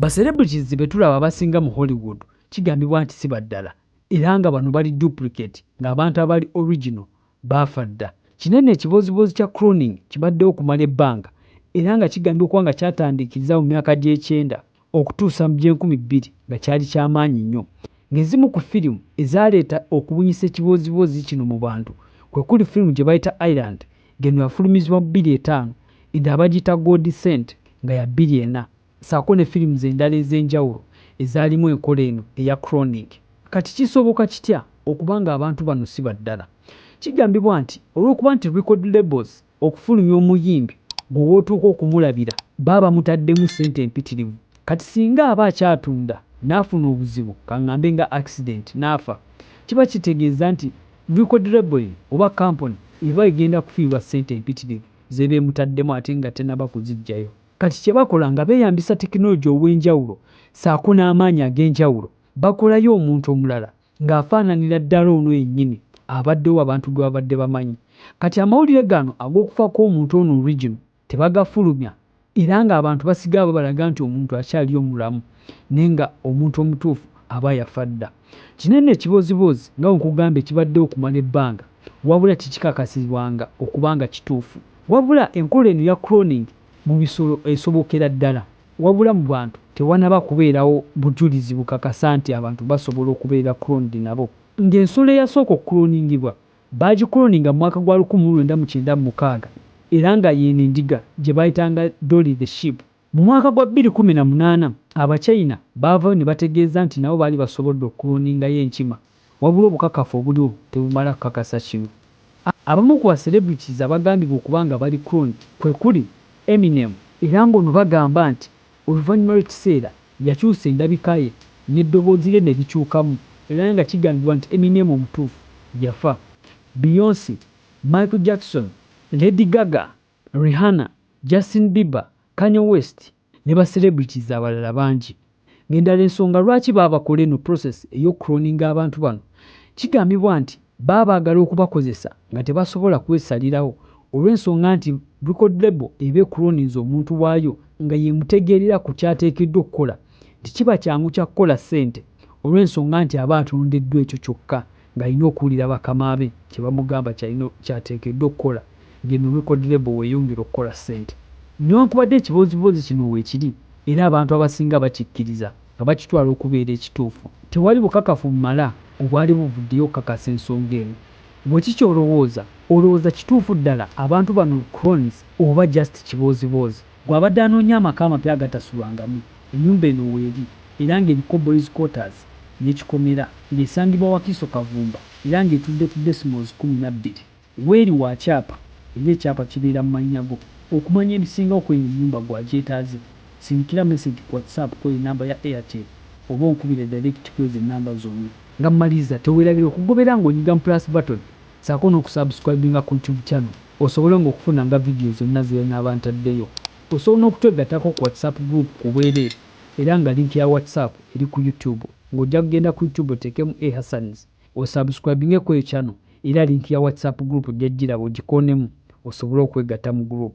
Ba celebrities betulaba abasinga mu Hollywood kigambibwa nti si baddala era nga bano bali duplicate ng'abantu abali original baafa dda. Kinene ekibooziboozi kya cloning kibaddewo okumala ebbanga era nga kigambibwa okuba nga kyatandiikiriza mu myaka gy'ekyenda okutuusa mu gy'enkumi bbiri nga kyali kya maanyi nnyo ng'ezimu ku firimu ezaaleeta okubunyisa ekibooziboozi kino mu bantu kwe kuli firimu gye bayita Island ng'eno yafulumizibwa mu bbiri etaano eda abagiyita Gold Cent nga ya bbiri ena. saako ne films endala ez'enjawulo ezaalimu enkola eno eya Cloning. Kati kisoboka kitya okuba nga abantu bano si baddala? Kigambibwa nti olw'okuba nti record labels okufulumya omuyimbi gwe w'otuuka okumulabira baba bamutaddemu ssente mpitirivu, kati singa aba akyatunda n'afuna obuzibu kang'ambe nga accident n'afa, kiba kitegeeza nti record label ye oba kampuni eba egenda kufiirwa ssente mpitirivu z'eba emutaddemu ate nga tennaba kuziggyayo. Kati kye bakola nga beeyambisa tekinologi ow'enjawulo ssaako n'amaanyi ag'enjawulo, bakolayo omuntu omulala ng'afaananira ddala ono yennyini abaddewo abantu gwe babadde bamanyi. Kati amawulire gano ag'okufa kw'omuntu ono original tebagafulumya era ng'abantu basigala babalaga nti omuntu akyaliyo mulamu naye nga omuntu omutuufu aba yafa dda. Kino nno ekiboozibozi nga bwe nkugambye kibaddewo okumala ebbanga wabula tekikakasibwanga okuba nga kituufu. Wabula enkola eno eya cloning mu bisolo esobokera ddala, wabula mu bantu tewanaba kubeerawo bujulizi bukakasa nti abantu basobola okubeera cloned nabo. Nga ensolo eyasooka okukuloningibwa baagikuloninga mu mwaka gwa lukumi mu lwenda mu kyenda mu mukaaga era nga yeeno endiga gye baayitanga Dolly the sheep. Mu mwaka gwa bbiri kkumi na munaana, Abachina baavaayo ne bategeeza nti nabo baali basobodde okukuloningayo enkima wabula obukakafu obuliwo tebumala kukakasa kino. Abamu ku ba celebrities abagambibwa okuba nga bali cloned kwe kuli Eminem, era ng'ono bagamba nti oluvannyuma lw'ekiseera yakyusa endabika ye n'eddoboozi lye ne likyukamu era nga kigambibwa nti Eminem omutuufu yafa, Beyonce, Michael Jackson, Lady Gaga Rihanna, Justin Bieber, Kanye West ne ba celebrities abalala bangi ng'endala ensonga lwaki baabakola eno process ey'oku cloninga abantu bano kigambibwa nti baba baagala okubakozesa nga tebasobola kwesalirawo olw'ensonga nti record label eba ecloninze omuntu waayo nga y'emutegeerera ku ky'ateekeddwa okukola nti kiba kyangu kya kukola ssente olw'ensonga nti aba atondeddwa ekyo kyokka ng'alina okuwulira bakama be kye bamugamba ky'alina ky'ateekeddwa okukola ye ne record label w'eyongera okukola ssente. Newankubadde ekibooziboozi kino weekiri era abantu abasinga bakikkiriza nga bakitwala okubeera ekituufu, tewali bukakafu bumala obwali buvuddeyo okukakasa ensonga eno. Ggwe ki ky'olowooza? Olowooza kituufu ddala abantu bano clones oba just kibooziboozi? Ggwe abadde anoonya amaka amapya agatasulwangamu, ennyumba eno weeri era ng'eriko Boys Quarters n'ekikomera, ng'esangibwa Wakiso Kavumba era ng'etudde ku decimals kkumi na bbiri. Weeri wa kyapa era ekyapa kibeera mu mannya go. Okumanya ebisingawo ku eno ennyumba ggwe agyetaaze, sindikira message ku WhatsApp kw'eyo ennamba ya Airtel oba onkubire direct kw'ezo ennamba zombi. Nga mmaliza, teweerabira okugobera ng'onyiga mu plus button saako noku subscribinga ku YouTube channel osobole nga okufuna nga video zonna zenaaba ntaddeyo. Osobola nokutwegatako ku WhatsApp group ku bwereere era nga link ya WhatsApp eri ku YouTube nga ojja kugenda ku YouTube oteekemu A Hassans o subscribinge kweyo channel era link ya WhatsApp group ojja kugiraba ogikoonemu osobole okwegatta mu group.